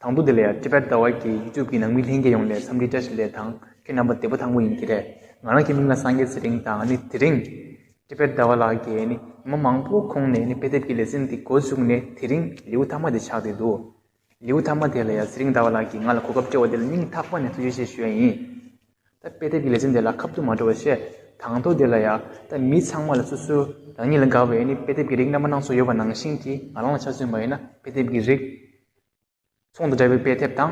དང་པོ་འདི་ལ་ཡང Tibet Dawai གི YouTube གི་ནང་མི་ལྷན་རྒྱས་ཡོངས་ལས་འཚམས་འདྲི་བཀྲ་ཤིས་ལེ་དང་ཁྱོད་རྣམ་པ་བདེ་པོ་དང་པོ་ཡིན་གྱི་རེད་ང་རང་གི་མིང་ལ་སངས་རྒྱས་ཚེ་རིང་དང་ནི་དེ་རིང Tibet Dawai ལགས་ཀྱིས་ནི་མི་མང་པོ་ཁོང་ནས་ནི་དཔེ་དེབ་ཀྱི་ལེ་ཚན་འདི་འགོ་བཙུགས་ནས་དེ་རིང་ལེའུ་ཐ་མ་དེ་ཆགས་བསྡད་འདུག། ལེའུ་མཐའ་མ་དེ་ལ་ཡང་ཚེ་རིང་ཟླ་བ་ལགས་ཀྱིས་ང་ལ་གོ་སྐབས་སྤྲད་བ་དེ་ལ་སྙིང་ཐག་པ་ནས་ཐུགས་རྗེ་ཆེ་ཞུ་ཡ་ཡིན། ད་དཔེ་དེབ་ཀྱི་ལེ་ཚན་དེ་ལ་ཁ་ཐུག་མ་འགྲོ་བ་བཤད། དང་ཐོག་དེ་ལ་ཡང་ད་མི་ཚང་མ་ལ་སོ་སོའི་རང་ཉིད་ལ་དགའ་བའི་ནི་དཔེ་དེབ་ཀྱི་རིགས་རྣམ་པ་སྣ་ཚོགས་ཡོད་པ་ནང་བཞིན་གྱི་ང་རང་ལ་ཆ་མཚོན་པ་ཡིན་ན་དཔེ་དེབ་ཀྱི་རིགས། ཚོང་དང་འབྲེལ་བའི་དཔེ་དེབ་དང།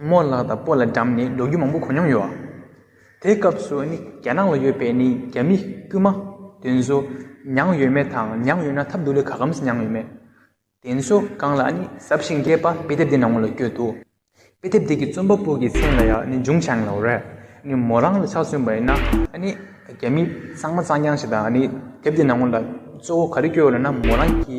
རྨོ་ལགས་དང་པོ་ལ་འགྲམ་ནས་འགྲོ་རྒྱུ་མང་པོ་གོ་མྱོང་ཡོད། དེའི་སྐབས་སུ་ནི་རྒྱ་ནག་ལ་ཡོད་པའི་ནི་རྒྱ་མི་དཀྱུས་མ་དེ་ཚོ་མྱངས་ཡོད་མེད་དང་མྱངས་ཡོད་ན་ཐབས་སྡུག་ལས་ག་གམ་ཟིག་མྱངས་ཡོད་མེད། དེ་ཚོ་གང་ལ་ནི་གཟབ་ཞིང་རྒྱས་པ་དཔེ་དེབ་དེ་ནང་ལ་བསྐྱོད་འདུག་དཔེ་དེབ་དེ་གི་རྩོམ་པ་པོ་གི་མཚན་ལ་ཡང་ནི་འཇུང་ཆང་ལའོ་རེད། ནི་མོ་རང་ལ་ཆགས་བཙུན་པ་ཡིན་ན་ནི་རྒྱ་མི་གཙང་མ་གཙང་རྐྱང་ཞིག་དང་ནི་དེབ་དེ་ནང་ལ་གཙོ་བོ་ག་རེ་བསྐྱོད་ཡོད་ལ་ན་མོ་རང་གི་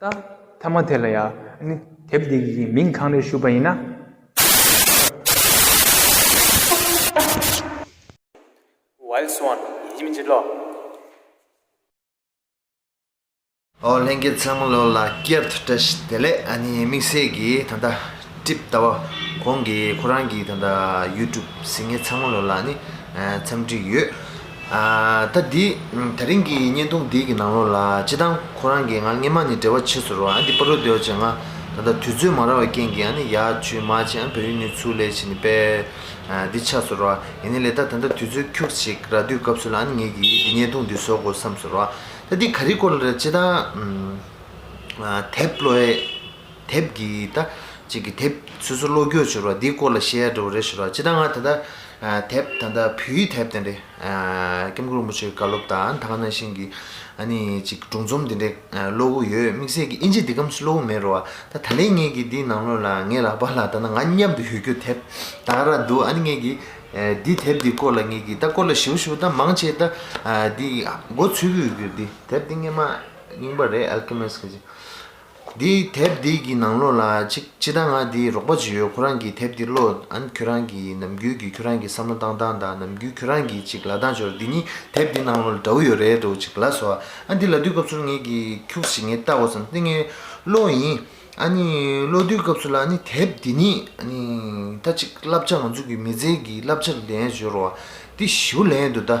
ད་ཐ་མ་དེ་ལ་ཡང་དེབ་འདི་གི་མིང་གང་རེད་ཞུས་པ་ཡིན་ན། Wild Swan ཡིན་མིན་ཅི་ལོགས། ཨོ་ལྷན་རྒྱལ་ཚང་ལོ་ལ་སྐྱབས་བཀྲ་ཤིས་བདེ་ལེགས་ཨ་ནི་དམིགས་བསལ་གྱིས་ད་ལྟ། སྒྲིབ་ལྟ་བ། ཁོང་གིས་ཁོ་རང་གི་ད་ལྟ YouTube ཟིན་ངེ་ཚང་མ་ལོ་ལ་ནི་འཚམས་འདྲི་ཡོད། ད་འདི་ད་རིང་གི་བརྙན་ཐུང་འདི་གི་ནང་ལོ་ལ་སྤྱི་བཏང་ཁོ་རང་གིས་ང་སྔེན་མ་ནི་བྲེལ་བ་ཆེ་ཚུར་རོ་འདི་པ་རོ་འདོད་ཅེས་ང་ད་ད་དུས་ཚོད་མ་རག་བའི་རྐྱེན་གྱིས་ནི་ཡ་ཆུས་མ་བྱས་ཨ་བོད་ཡུལ་ནུས་ཚུར་ལས་བྱེད་ནི་པས་འདི་ཆགས་ཚུར་རོ་ཡིན་ནི་ལས་ད་ད་ད་དུས་ཚོད་ཁྱུག་ཅིག་ར་དུས་སྐབས་སུ་ལ་ནི་ངེད་ཀྱིས་འདི་བརྙན་ཐུང་འདི་བཟོ་དགོས་བསམས་ཚུར་རོ་ད་འདི་ག་རི་སྐོར་ལ་རེད་སྤྱི་བཏང་དེབ་ལོའི། དེབ་འདི་ད་གཅིག་གི་དེབ་སོ་སོ་བློ་འགྱོད་བྱོས་རོགས་འདིའི་སྐོར་ལ་བཤད་ཡ་འདྲ་བོ་རེད་ཞུ་རོགས་སྤྱི་ད་ང་ད་ལྟ་དེབ་ད་ལྟ་བོད་ཡིག་དེབ་དེ་འདྲ ྋསྐྱབས་མགོན་རིན་པོ་ཆེའི་བཀའ་སློབ་དང་ཐ་ག་ནང་བཞིན་གྱི ྋའནི་གཅིག་སྒྲུང་རྩོམ་དེ་འདྲ་ཀློག་གི་ཡོད་དམིགས་བསལ་གྱི་ཨིན་ཇི་འདི་ཀམ་སུ་ཀློག་གི་མེད་རོགས་ཨ་ད་ལན་ངེད་ཀྱི་འདིའི་ནང་ལོ་ལ་ངའི་ལག་པ་ལ་ད་ང་མཉམ་དུ་ཡོད་རྒྱུ་དེབ་ད་ག་ར་འདུག་ཨ་ནི་ངེད་ཀྱི་འདི་དེབ་འདི་སྐོར་ལ་ངེད་ཀྱི་ད་སྐོར་ལ་ཞུ་ཞུ་ད་མང་ཆེ་ད་འདི་མགོ་ཚུད་གི་ཡོད་རྒྱུ་འདི་དེབ་འདི་སྔན་མ་རྙིང་པ་རེད་ཨལ་ཀེ་མེས་ཀྱི་ཅིག། འདིའི་དེབ་འདི་གི་ནང་ལོགས་ལ་ཅིག་ཅི་ད་ང་འདིའི་རོགས་པ་བྱེད་ཡོད་ཁོ་རང་གིས་དེབ་འདི་ཀློག་ཨན་ཁྱོད་རང་གིས་ནམ་རྒྱུན་གྱི་ཁྱོད་རང་གི་བསམ་བློ་བཏང་སྟངས་དང་ནམ་རྒྱུན་ཁྱོད་རང་གིས་ཅིག་ལ་ལྡང་ཞོར་འདི་གཉིས་དེབ་འདི་ནང་ལོགས་ལ་འདྲ་བོ་ཡོད་རེད་འདུག་ཅིག་ལ་སོ་ཨ་འདི་ལ་དུས་སྐབས་སུ་ངེད་ཀྱིས་ཁྱུགས་ཤིག་ངེད་ལྟ་བུ་ཙམ་སྟེ་ངེད་ཀློག་ཡིན་ཨ་ནི་ཀློག་དུས་སྐབས་སུ་ལ་ནི་དེབ་འདི་ནི་ཨ་ནི་ད་ཅིག་བསླབ་བྱ་ང་ཚོ་གི་མི་ཚེ་གི་བསླབ་བྱ་ལེན་ཞོར་བ་འདི་ཞིབ་པོ་ལེན་འདུག་ད།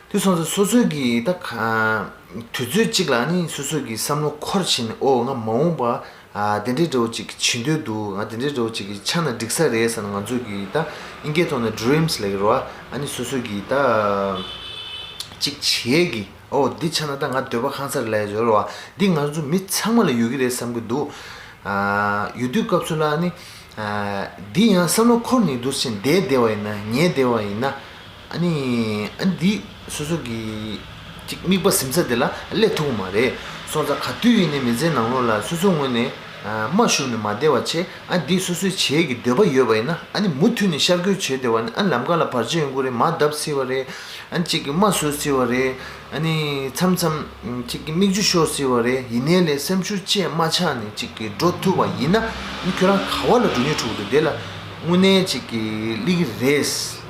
དུས་མཚུངས་སུ་སོ་སོའི་གི་ད་ག། དུས་ཚོད་གཅིག་ལ་ནི་སོ་སོའི་གི་བསམ་བློ་འཁོར་ཕྱིན་ནས་ཨོ་ང་མ་འོངས་པ་དེ་འདྲའི་འདྲ་བོ་ཅིག་བྱེད་འདོད་འདུག་ང་དེ་འདྲའི་འདྲ་བོ་ཅིག་གི་ཆ་ན་འགྲིག་ས་རེད་ཟེར་ན་ང་ཚོས་གི་ད་ཨིན་སྐད་ཐོག་ནས Dreams ལེགས་རོ་ཨ་ནི་སོ་སོའི་གི་ད་ཅིག་བྱེད་གི་ཨོ་འདི་ཆ་ན་ད་ང་འདོད་པ་ཁང་སར་ལས་བཟོ་རོ་ཨ་འདི་ང་ཚོ་མི་ཚང་མ་ལ་ཡོད་གི་རེད་བསམ་གི་འདུག་ཡོད་དུས་སྐབས་སུ་ལ་ནི་འདི་ཡང་བསམ་བློ་འཁོར་ནི་འདུག་ཕྱིན་བདེ་བདེ་བ་ཡིན་ན་ཉེས་བདེ་བ་ཡིན་ན། ཨཱ་ནི། འདི་སོ་སོ་གི། ཅིག་དམིགས་པ་ཟིམ་ཚ་དེ་ལ་སླད་ཐུག་མ་རེད། སོང་ཚ་ག་དུས་ཡིན་ནའི་མི་ཚེའི་ནང་ལོགས་ལ་སོ་སོའི་ངོས་ནས། མ་ཞུགས་ནས་མ་བདེ་བ་ཆེ་ཨཱ་འདི་སོ་སོའི་བྱེད་ཀྱི་འདོད་པ་ཡོད་པ་ཡིན་ན་ཨཱ་ནི་མུ་མཐུད་ནས་ཤར་སྐྱོད་བྱེད་བདེ་བ་ནི་ཨཱ་ལམ་ཁ་ལ་བར་ཆད་ཡོང་གི་རེད་མ་བརྡབ་སྲིད་བ་རེད་ཨཱ་ཅིག་གི་མ་བཟོད་སྲིད་བ་རེད་ཨཱ་ནི། མཚམས་མཚམས། ཅིག་གི་མིག་ཆུ་ཤོར་སྲིད་བ་རེད་ཡིན་ནའི་ལས་སེམས་ཤུགས་ཆེ་མ་ཆགས་ནས་ཅིག་གི་འགྲོ་ཐུབ་བ་ཡིན་ན་ཨཱ་ནི་ཁྱོད་རང་ག་བ་ལ་འགྲོ་ཉེ་འཁྲུག་འདུག་དེ་ལ་དངོས་གནས་ཅིག་གི་གླེགས་རེད།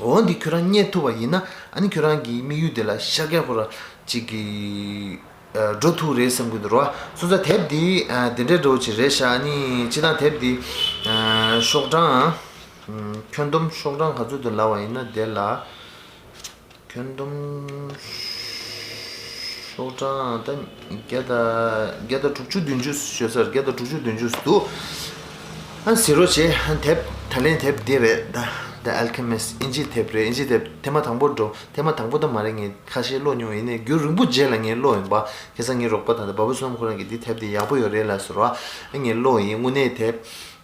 འོན་ཏེ་ཁྱོད་རང་རྙེད་ཐུབ་པ་ཡིན་ན་ཁྱོད་རང་གིས་དམིགས་ཡུལ་དེ་ལ་ཤཀྱཱ་ཕོ་ར་གཅིག་གི་འགྲོ་ཐུག་རེད་བསམ་གྱི་འདུག་རོ། སུ་ཙ་དེབ་འདི་དེ་འདྲའི་འགྲོ་ཆེ་རེད་ཤག་ཅི་དང་དེབ་འདི་ཤོག་གྲངས་ཁྱོན་བསྡོམས་ཤོག་གྲངས་ག་ཚོད་དུ་ལགས་བ་ཡིན་ན་དེ་ལ། ཁྱོན་བསྡོམས་ཤོག་གྲངས་ད་བརྒྱ་ད་བརྒྱ་ད་དྲུག་ཅུ་བདུན་ཅུ་ཞོ་སར་བརྒྱ་ད་དྲུག་ཅུ་བདུན་ཅུ་འདུག་ཨ་ཟེར་རོ་ཞེས་ཨ་དེབ་ད་ལན་དེབ་འདི་རེད་ད The Alchemist དབྱིན་ཇིའི་དེབ་རེད་དབྱིན་ཇིའི་དེབ་དེ་མ་དང་པོར་འགྲོ་དེ་མ་དང་པོ་ད་མ་རེད་ངས་ཁ་ཤས་ཀློག་མྱོང་ཡིན་ནའི་རྒྱུ་རིང་པོ་རྗེས་ལ་ངས་ཀློག་ཡིན་པ་ཁེ་སང་ངའི་རོགས་པ་དང་འདི་བ་བུ་སོ་ནམ་ཁོ་རང་གིས་འདི་དེབ་འདི་ཡག་པོ་ཡོད་རེད་ལ་ཟེར་བ་ཨ་ངས་ཀློག་ཡིན་དངོས་གནས་དེབ་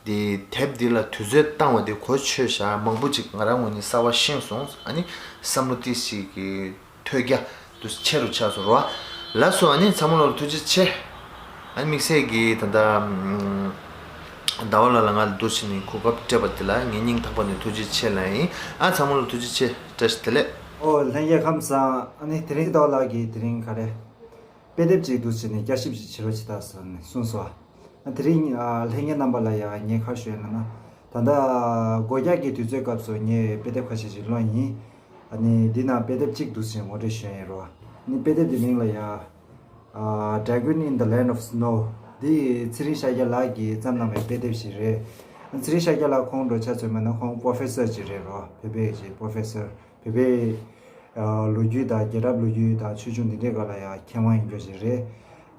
དེ་དེབ་འདི་ལ་དུས་ཚོད་བཏང་བ་དེ་གོ་ཆོད་ཞག་མང་པོ་ཅིག་ང་རང་ངོས་ནས་གསར་བ་ཤེས་སོང་བསམ་བློ་ཏི་ཞིག་གི་ཐོད་རྒྱ་དུ་ཆེ་རུ་ཆགས་སོང་རོ་ཨ་ལ་སོ་ཨ་ནི་ཚ་མོ་ལོ་ལོ་ཐུགས་རྗེ་ཆེ་ཨ་ནི་དམིགས་བསལ་གྱིས་ད་ལྟ་ཟླ་བ་ལ་ལ་ང་ལ་འདུར་བྱས་ནས་གོ་སྐབས་སྤྲད་པ་དེ་ལ་ངས་སྙིང་ཐག་པ་ནས་ཐུགས་རྗེ་ཆེ་ལན་ཨི་ཨ་ཚ་མོ་ལོ་ཐུགས་རྗེ་ཆེ་བཀྲ་ཤིས་བདེ་ལེགས། ཨོ་ལྷན་རྒྱལ་ཁམས་བཟང་ཨ་ནི་དེ་རིང་རྡོ་ལགས་ཀྱིས་དེ་རིང་ག་རེ། དཔེ་དེབ་ཅིག་བསྡུ་བྱས་ནས་བསྐྱར་ཞིབ་ཅིག་བྱེད་རོགས་བྱེད་ད་ཟེར་ནས་གསུངས་སོ། དེ་རིང། ལྷན་རྒྱས་རྣམ་པ་ལ་ཡང་ངས་ཁ་ཤོད་ཡོང་ན། ད་ལྟ། སྒོ་རྒྱག་གི་དུས་ཚོད་སྐབས་སུ་ངས་དཔེ་དེབ་ཁ་ཤས་ཤིག་བླངས་ཡིན། ནི། འདི་ནང་དཔེ་དེབ་གཅིག་བསྡུ་བྱས་ངོ་སྤྲོད་ཞུས་ཡིན་རོགས། ནི་དཔེ་དེབ་འདི་མིང་ལ་ཡང། Dragon in the Land of Snow། འདི། ཚེ་རིང་ཤཱཀྱ་ལགས་ཀྱིས་བརྩམས་གནང་བའི་དཔེ་དེབ་ཞིག་རེད། ཚེ་རིང་ཤཱཀྱ་ལགས་ཁོང་འགྲོ་ཆ་ཚོད་མེད་ན་ཁོང Professor ཅིག་རེད་རོགས་བོད་པའི་ཀྱི Professor། བོད་པའི་ལོ་རྒྱུས་དང་རྒྱལ་རབས་ལོ་རྒྱུས་དང་ཆོས་འབྱུང་འདི་འདྲའི་སྐོར་ལ་ཡང་མཁས་དབང་ཡིན་རྒྱུ་ཞིག་རེད།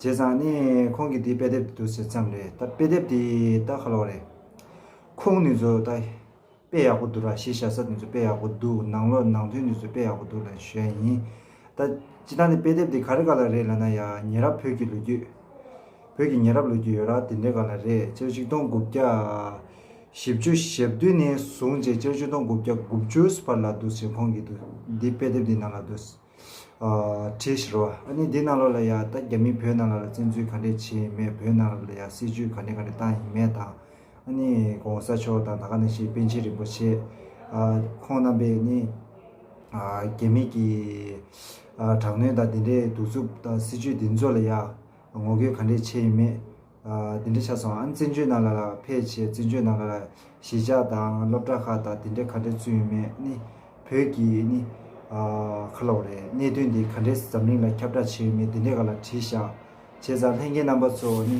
བྱས་ཙང་ནི་ཁོང་གིས་འདི་དཔེ་དེབ་ཏུ་བསྡུ་ཟིན་ཙམ་རེད། ད་དཔེ་དེབ་འདི་ད་ཁ་ལོ་རེད། ཁུངས་ནི་ཚོ་ད་དཔེ་ཡག་པོ་འདུག་ར་གཞི་བཞག་ས་འདི་ཚོ་དཔེ་ཡག་པོ་འདུག་ནང་ལོགས་ནང་དོན་འདི་ཚོ་དཔེ་ཡག་པོ་འདུག་ལ་གཞོན་ཡིན། ད་སྤྱི་ཐང་དེ་དཔེ་དེབ་དེ་ག་རེ་ག་ལ་རེད་ལབ་ན་ཡ་ཉེ་རབས་བོད་ཀྱི་ལོ་རྒྱུས། བོད་ཀྱི་ཉེ་རབས་ལོ་རྒྱུས་ཡོད་ར་དེ་འདྲའི་ག་ལ་རེད་སྤྱིར་ཆིག་སྟོང་དགུ་བརྒྱ། བཞི་བཅུ་ཞེ་བདུན་ནས་བཟུང་བྱས་སྤྱིར་ཆིག་སྟོང་དགུ་བརྒྱ་དགུ་བཅུ་བར་ལ་འདུག་ཅེས་ཁོང་གིས་འདུག་འདི་དཔེ་དེབ་འདི་ནང་ལ་འདུག། བྲིས་ཤིག་རོ། ཨ་ནི་འདི་ནང་ལོ་ལ་ཡ་ད་རྒྱ་མིས་བོད་ནང་ལ་ལ་བཙན་འཛུལ་ག་འདྲས་བྱས་ཡིན་མེད་བོད་ནང་ལ་ལ་ཡ་སྲིད་ཇུས་ག་འདྲས་ག་འདྲས་བཏང་ཡིན་མེད་དང། ནི ྋགོང་ས་མཆོག་དང་ད་ག་ནི་ཞེས་པཎ་ཆེན་རིན་པོ་ཆེ་ཁོང་རྣམ་པས་ནི་རྒྱ་མི་གི་དྲག་གནོན་དང་དེ་འདྲའི་གདུག་རྩུབ་དང་སྲིད་ཇུས་འདི་ཚོ་ལ་ཡ་ངོ་རྒོལ་ག་འདྲས་བྱས་ཡོད་མེད་དེ་འདྲ་ཆ་སོང་ཨ་ནི་བཙན་བྱོལ་ནང་ལ་ལ་ཕལ་ཆེར་བཙན་བྱོལ་ནང་ལ་ལ་གཞིས་ཆགས་དང་སློབ་གྲྭ་ཁག་དང་དེ་འདྲས་ག་འདྲས་བཙུན་ཡོད་མེད་ནི་བོད་ཀྱི་ནི་ཁ་ལོ་རེད་གནད་དོན་འདི་ག་འདྲས་འཛམ་གླིང་ལ་ཁྱབ་བསྒྲགས་བྱས་ཡོད་མེད་དེ་འདྲས་ག་ལ་བྲིས་བཞག་བྱས་ཙང་ལྷན་རྒྱས་རྣམ་པ་ཚོ་ནི།